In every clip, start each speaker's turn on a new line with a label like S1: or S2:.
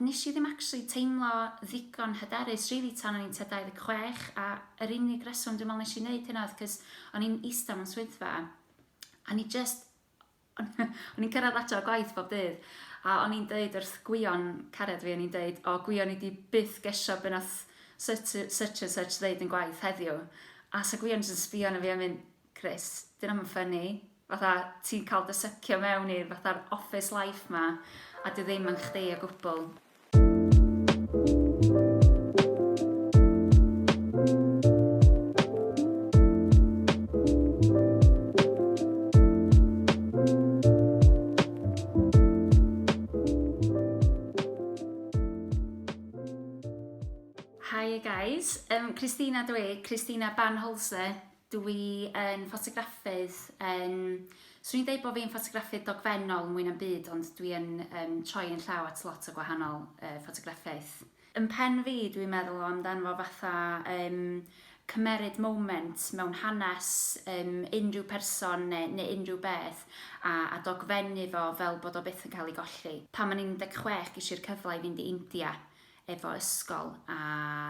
S1: Nes i ddim actually teimlo ddigon hyderus rili tan o'n i'n tua 26 a yr unig reswm dwi'n meddwl nes i neud hynna oedd cos o'n i'n ista mewn swyddfa a o'n i jyst o'n i'n cyrraedd adra o gwaith bob dydd a o'n i'n deud wrth Gwion cariad fi o'n i'n deud o Gwion i di byth gesio be nath such a such ddeud yn gwaith heddiw a sa Gwion jyst yn sbio arno fi a mynd Chris, dyna mae'n ffynnu, fatha ti'n cael dy sycio mewn i'r fatha'r office life ma, a dy ddim yn chdi o gwbl. Hi guys, um, Christina dwi, Christina Banholse, Dw i yn ffotograffydd, yym, 'swn i'n deud bod fi'n ffotograffydd dogfennol mwy na'm byd ond dwi yn yym troi yn llaw at lot o gwahanol yy ffotograffaeth. Yn pen fi dwi'n meddwl amdano fo fatha yym cymeryd moment mewn hanes yym unrhyw person ne ne unrhyw beth a a dogfennu fo fel bod o byth yn cael ei golli. Pan o'n i'n 16 gesh i'r cyfle i fynd i India efo ysgol a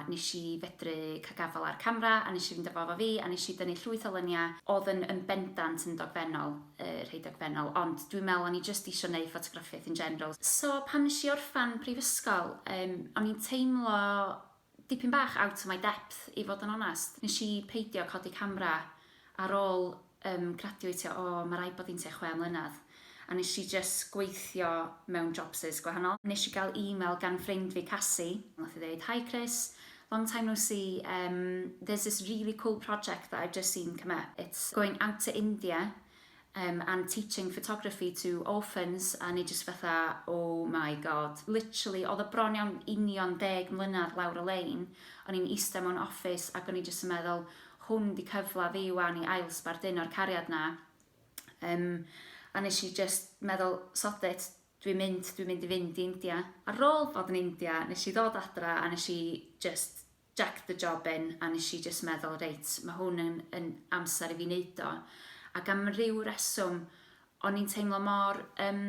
S1: nes i fedru ca'l gafal ar camra a nes i fynd a fo efo fi a nes i dynnu llwyth o lynia odd yn yn bendant yn dogfennol yy rhei dogfennol ond dwi'n me'l o'n i jyst isio neu' ffotograffiaeth in general. So pan nes i orffan prifysgol yym o'n i'n teimlo dipyn bach out of my depth i fod yn onast. Nes i peidio codi camra ar ôl yym graduatio o ma' raid bod hi'n tua chwe mlynedd a nes i jyst gweithio mewn jobsys gwahanol. Nes i gael email gan ffrind fi Casi nath hi ddeud hi Chris long time no see yym there's this really cool project that I've just seen come up it's going out to India Yym I'm teaching photography to orphans a o'n i jyst fatha oh my god literally oedd o bron iawn union deg mlynedd lawr y lein o'n i'n ista mewn office ac o'n i jyst yn meddwl hwn di cyfle fi wan i ail sbarduno'r cariad na yym a nes i jyst meddwl sod it dwi'n mynd dwi'n mynd i fynd i India. Ar ôl bod yn India nes i ddod adra a nes i jyst Jacked the job in a nes i jyst meddwl reit ma hwn yn yn amser i fi neud o ac am ryw reswm o'n i'n teimlo mor yym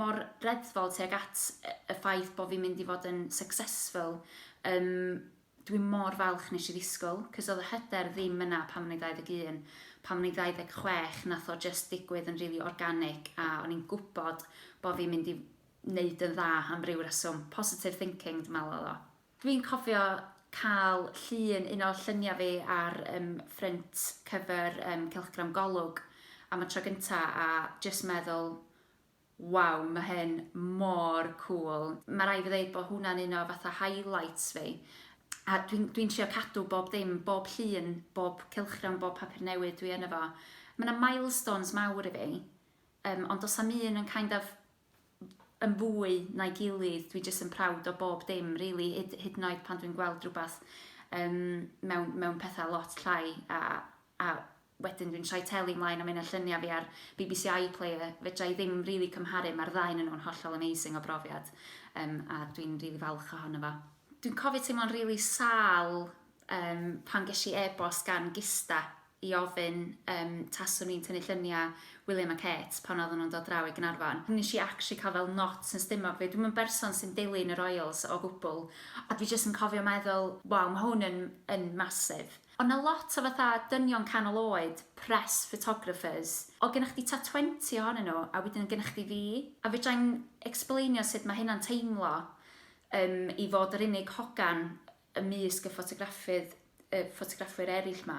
S1: mor reddfol tuag at y y ffaith bo fi'n mynd i fod yn successful yym dwi mor falch nes i ddisgwyl 'c'os o'dd y hyder ddim yna pan o'n i'n 21 pan o'n i'n 26 nath o jyst ddigwydd yn rili organic a o'n i'n gwbod bo fi'n mynd i neud yn dda am ryw reswm positive thinking dwi me'wl o'dd o. Dwi'n cofio cael llun un o lluniau fi ar yym ffrynt cyfer yym cylchgram Golwg am y tro gynta a jyst meddwl waw ma hyn mor cŵl. Ma raid fi ddeud bod hwnna'n un o fatha highlights fi a dwi'n dwi'n trio cadw bob ddim, bob llun, bob cylchgrawn, bob papur newydd dwi yno fo. Ma na milestones mawr i fi yym ond does na'm un yn kind of yn fwy na'i gilydd, dwi jyst yn proud o bob dim rili, hyd hyd yn oed pan dwi'n gweld rhywbeth um, mewn, mewn pethau lot llai a, a wedyn dwi'n troi teli mlaen a mynd lluniau fi ar BBC iPlayer, fedra i ddim rili really cymharu, mae'r ddau yn nhw'n hollol amazing o brofiad um, a dwi'n rili really falch ohono fo. Dwi'n cofio teimlo'n rili really sal Yym, pan ges i e-bost gan Gista i ofyn yym taswn i'n tynnu lluniau William a Kate pan oedden nhw'n dod draw i Gaernarfon, nes i actually cael fel knots yn stumog fi. Dwi'm yn berson sy'n dilyn y Royals o gwbl, a dwi jyst yn cofio meddwl, waw, ma' hwn yn yn massive. Oedd 'na lot o fatha dynion canol oed, press photographers, oedd gennych chdi tua 20 ohonyn nhw, a wedyn oedd gennych chdi fi, a fedra i'm ecsblaenio sut ma' hynna'n teimlo, yym, i fod yr unig hogan ymysg y ffotograffydd, y ffotograffwyr eraill 'ma,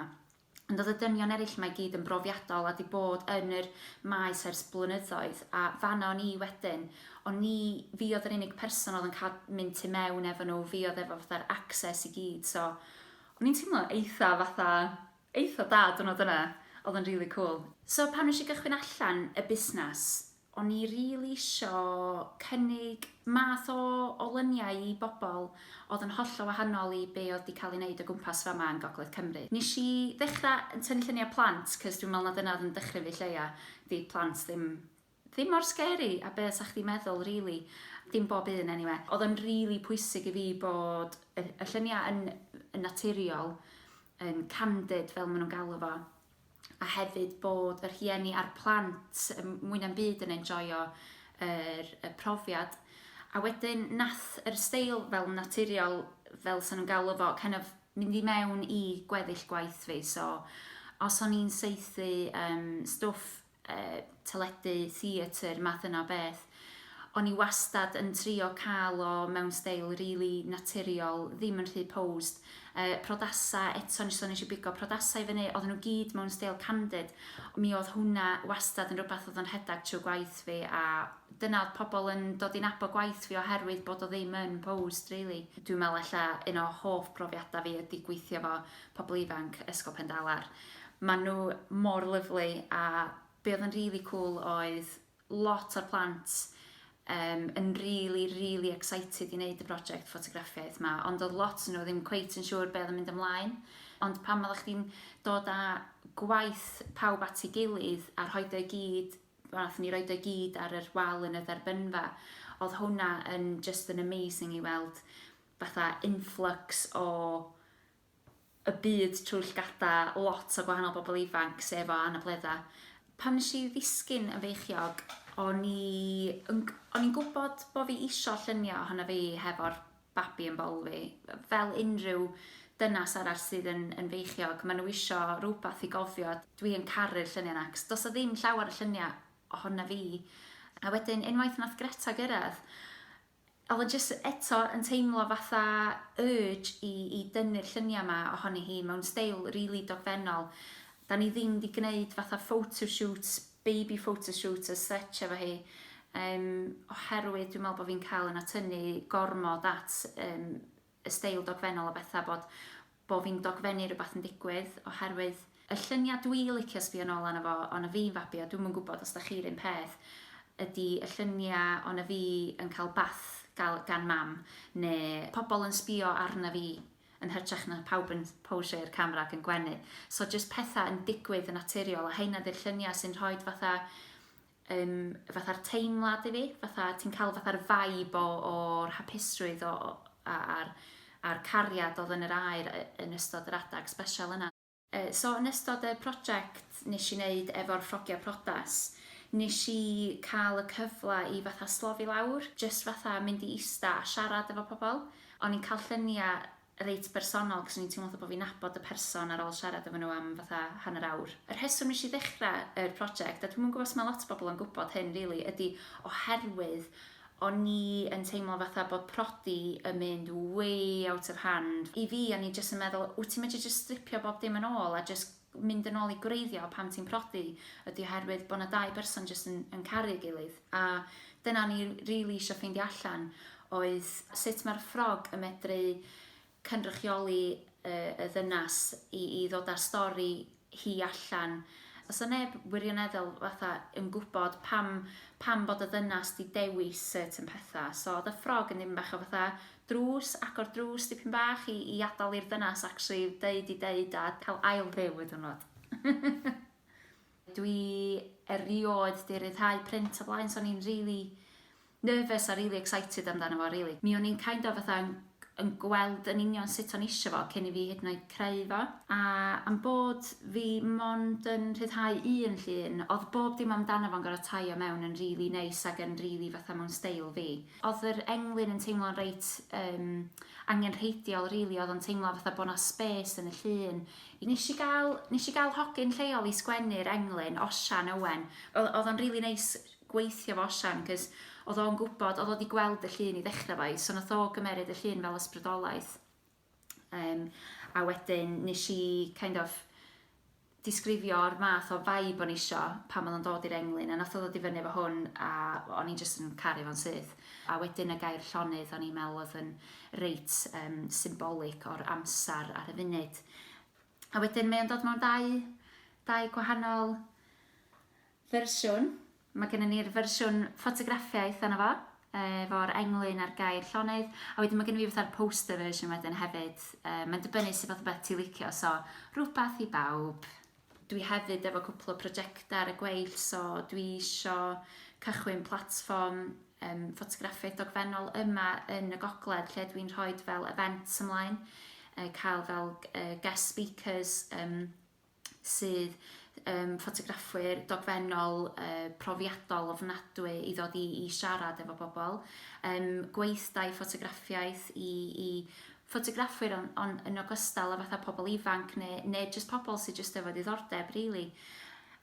S1: ond oedd y dynion eraill 'ma i gyd yn brofiadol a 'di bod yn yr maes ers blynyddoedd, a fan'na o'n i wedyn, o'n i, fi oedd yr unig person oedd yn cael mynd tu mewn efo nhw, fi oedd efo fatha'r access i gyd, so o'n i'n teimlo eitha fatha, eitha da diwrnod yna, oedd yn rili cŵl. So pan wnes i gychwyn allan y busnes, O'n i rili isio cynnig math o o luniau i bobl oedd yn hollol wahanol i be oedd 'di cael ei wneud o gwmpas fama yn Gogledd Cymru. Nes i ddechra yn tynnu lluniau plant cos dwi'n meddwl na dyna oedd yn dychryn fi lleia, 'di plant ddim ddim mor scary a be 'sa chdi'n meddwl rili. Dim bob un eniwe. Oedd o'n rili pwysig i fi bod y y lluniau yn yn naturiol, yn candid fel ma' nhw'n galw fo. a hefyd bod y rhieni a'r plant mwy na'm byd yn enjoio yr, y profiad. A wedyn nath yr steil fel naturiol, fel sy'n nhw'n galw fo, kind of mynd i mewn i gweddill gwaith fi, so os o'n i'n saethu um, stwff uh, teledu, theatr, math yna beth. O'n i wastad yn trio cael o mewn steil rili really naturiol, ddim yn rhy posed. Uh, prodasa, eto nes o'n eisiau bigo prodasau i fyny, oedden nhw gyd mewn steil candid. Mi oedd hwnna wastad yn rhywbeth oedd yn rhedeg trwy gwaith fi a dyna oedd pobl yn dod i'n abo gwaith fi oherwydd bod o ddim yn posed, really. Dwi'n meddwl ella un o hoff brofiadau fi ydy gweithio fo pobl ifanc Ysgol Pendalar. Maen nhw mor lyflu a be oedd yn rili cŵl oedd lot o'r plant um, yn rili, rili excited i wneud y brosiect ffotograffiaeth yma, ond oedd lot nhw ddim cweit yn siŵr beth oedd yn mynd ymlaen. Ond pan oeddech chdi'n dod â gwaith pawb at ei gilydd a rhoi o'i gyd, wnaethon ni roi o'i gyd ar yr wal yn y dderbynfa, oedd hwnna yn just yn amazing i weld fatha influx o y byd trwy llygada lot o gwahanol bobl ifanc, sef o anabledda. Pan nes i ddisgyn yn feichiog, o'n i yn g- o'n i'n gwbod bo' fi isio llunio ohono fi hefo'r babi yn bol fi. Fel unrhyw dynas arall sydd yn yn feichiog, ma' nhw isio rwbath i gofio. Dwi yn caru'r llunia' 'na, 'c'os do's 'na ddim llawer o llunia' ohona fi. A wedyn unwaith nath Greta gyrradd, Oedd o jyst eto yn teimlo fatha urge i i dynnu'r lluniau yma ohoni hi mewn steil rili dogfennol. Dan ni ddim di gneud fatha photo shoot, baby photo shoot as such efo hi yym oherwydd dwi'n meddwl bod fi'n cael yn atynnu gormod at yym y steil dogfennol a betha bod bo fi'n dogfennu rwbath yn digwydd oherwydd y llunia dwi licio sbio nol arno fo o na fi'n fabi a dwi'm yn gwbod os da chi run peth ydi y llunia o na fi yn ca'l bath gal gan mam ne pobol yn sbio arna fi yn hytrach na pawb yn posio i'r camera ac yn gwenu so jyst petha yn digwydd yn naturiol a heina di'r llunia sy'n rhoid fatha um, fatha'r teimlad i fi, fatha ti'n cael fatha'r vibe o, o'r hapusrwydd o, a'r, a'r cariad oedd yn yr air yn ystod yr adag special yna. Uh, so yn ystod y prosiect nes i wneud efo'r ffrogiau prodas, nes i cael y cyfle i fatha slofi lawr, just fatha mynd i ista a siarad efo pobl. O'n i'n cael lluniau reit bersonol cos o'n i'n teimlo fatha bo' fi'n nabod y person ar ôl siarad efo nhw am fatha hanner awr. Y rheswm nes i ddechra yr project, a dwi'm yn gwbo os ma' lot o bobl yn gwbod hyn rili, ydi oherwydd o'n i yn teimlo fatha bod prodi yn mynd way out of hand. I fi o'n i jyst yn meddwl, wt ti'n medru jyst stripio bob dim yn ôl a jyst mynd yn ôl i gwreiddio pan ti'n prodi ydi oherwydd bod 'na dau berson jyst yn yn caru ei gilydd a dyna o'n i rili isio ffeindio allan oedd sut mae'r ffrog yn medru cynrychioli yy y ddynas i i ddod â'r stori hi allan. Os o neb wirioneddol fatha yn gwybod pam pam bod y ddynas 'di dewis certain petha so oedd y ffrog yn ddim bach o fatha drws agor drws dipyn bach i i adal i'r dynas actually deud i deud a cael ail byw y diwrnod. Dwi erioed 'di ryddhau print o blaen so o'n i'n rili nervous a rili excited amdano fo rili. Mi o'n i'n kind of fatha yn yn gweld yn union sut o'n isio fo cyn i fi hyd yn oed creu fo a am bod fi mond yn rhyddhau un llun o'dd bob dim amdano fo'n gor'o' taio mewn yn rili neis ag yn rili fatha mewn steil fi. Odd yr englyn yn teimlo'n reit yym angenrheidiol rili odd o'n teimlo fatha bo' 'na spes yn y llun. Nesh i ga'l nesh i ga'l hogyn lleol i sgwennu'r englyn, Osian Owen. O- odd o'n rili neis gweithio 'fo Osian 'c'os odd o'n gwbod odd o 'di gweld y llun i ddechra 'fo i so nath o gymeryd y llun fel ysbrydolaeth. Um, a wedyn nes i kind of disgrifio'r math o vibe o'n isio pan oedd o'n dod i'r englyn a nath o ddod i fyny efo hwn a o'n i'n just yn caru fo'n syth. A wedyn y gair llonydd o'n i'n meddwl oedd yn reit um, symbolic o'r amser ar y funud. A wedyn mae o'n dod mewn dau, dau gwahanol fersiwn. Mae gennym ni'r fersiwn ffotograffiaeth ohono fo, efo'r englyn a'r gair llonydd, a wedyn mae gennym ni fatha'r poster version wedyn hefyd. Yy, mae'n dibynnu sut fath o beth ti'n licio, so rhywbeth i bawb. Dwi hefyd efo cwpl o prosiectau ar y gweill, so dwi isio cychwyn platfform um, ffotograffiaeth dogfennol yma yn y gogledd lle dwi'n rhoi fel events ymlaen, uh, cael fel uh, guest speakers, um, sydd yn ffotograffwyr dogfennol yy profiadol ofnadwy i ddod i i siarad efo bobl. Yym gweithdai ffotograffiaeth i i ffotograffwyr on' on' yn ogystal â fatha pobl ifanc ne' ne' jyst pobl sy jyst efo diddordeb rili.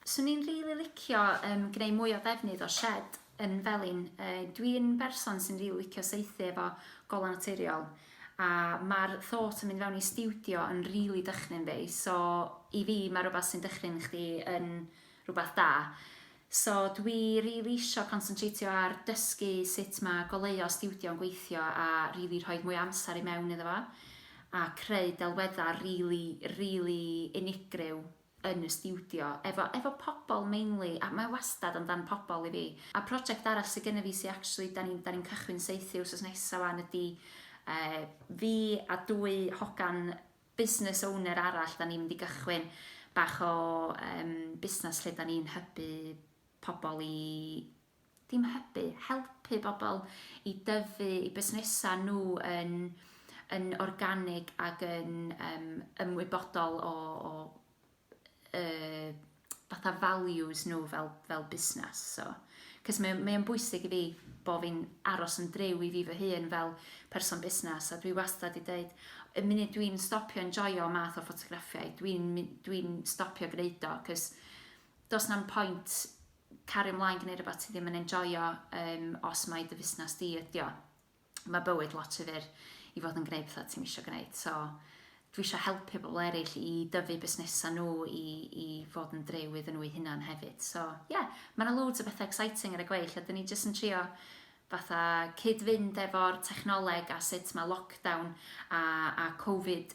S1: Swn i'n rili licio yym gneu' mwy o ddefnydd o shed yn felin, dwi yn berson sy'n rili licio saethu efo golau naturiol a ma'r thought o mynd fewn i stiwdio yn rili dychryn fi so i fi ma' rwbath sy'n dychryn chdi yn rwbath da so dwi rili isio consyntreitio ar dysgu sut ma' goleuo stiwdio yn gweithio a rili rhoid mwy o amser i mewn iddo fo a creu delweddau rili rili unigryw yn y stiwdio efo efo pobl mainly a mae wastad amdan pobl i fi a project arall sy gynna fi sy actually dan ni'n dan ni'n cychwyn saethu wsos nesa wan ydi yy fi a dwy hogan business owner arall dan ni'n mynd i gychwyn bach o yym busnas lle dan ni'n hybu pobl i Dim hybu, helpu bobl i dyfu eu busnesau nhw yn, yn organig ac yn um, ymwybodol o, o uh, fatha values nhw fel, fel busnes. So, cys mae, mae o'n bwysig i fi bod fi'n aros yn drew i fi fy hun fel person busnes a dwi wastad i dweud y munud dwi'n stopio enjoyo math o ffotograffiau dwi'n dwi stopio gwneud o cys dos na'm pwynt Cario mlaen gneud rwbath ti ddim yn enjoio yym os mai dy fusnes di ydi o. Mae bywyd lot rhy fyr i fod yn gneud pethau ti'm isio gneud so dwi isio helpu pobl eraill i dyfu busnesau nhw i, i fod yn driw iddyn nhw eu hunan hefyd. So ie, yeah, mae yna loads o bethau exciting ar y gweill a dyn ni jyst yn trio fatha cyd-fynd efo'r technoleg a sut mae lockdown a, a covid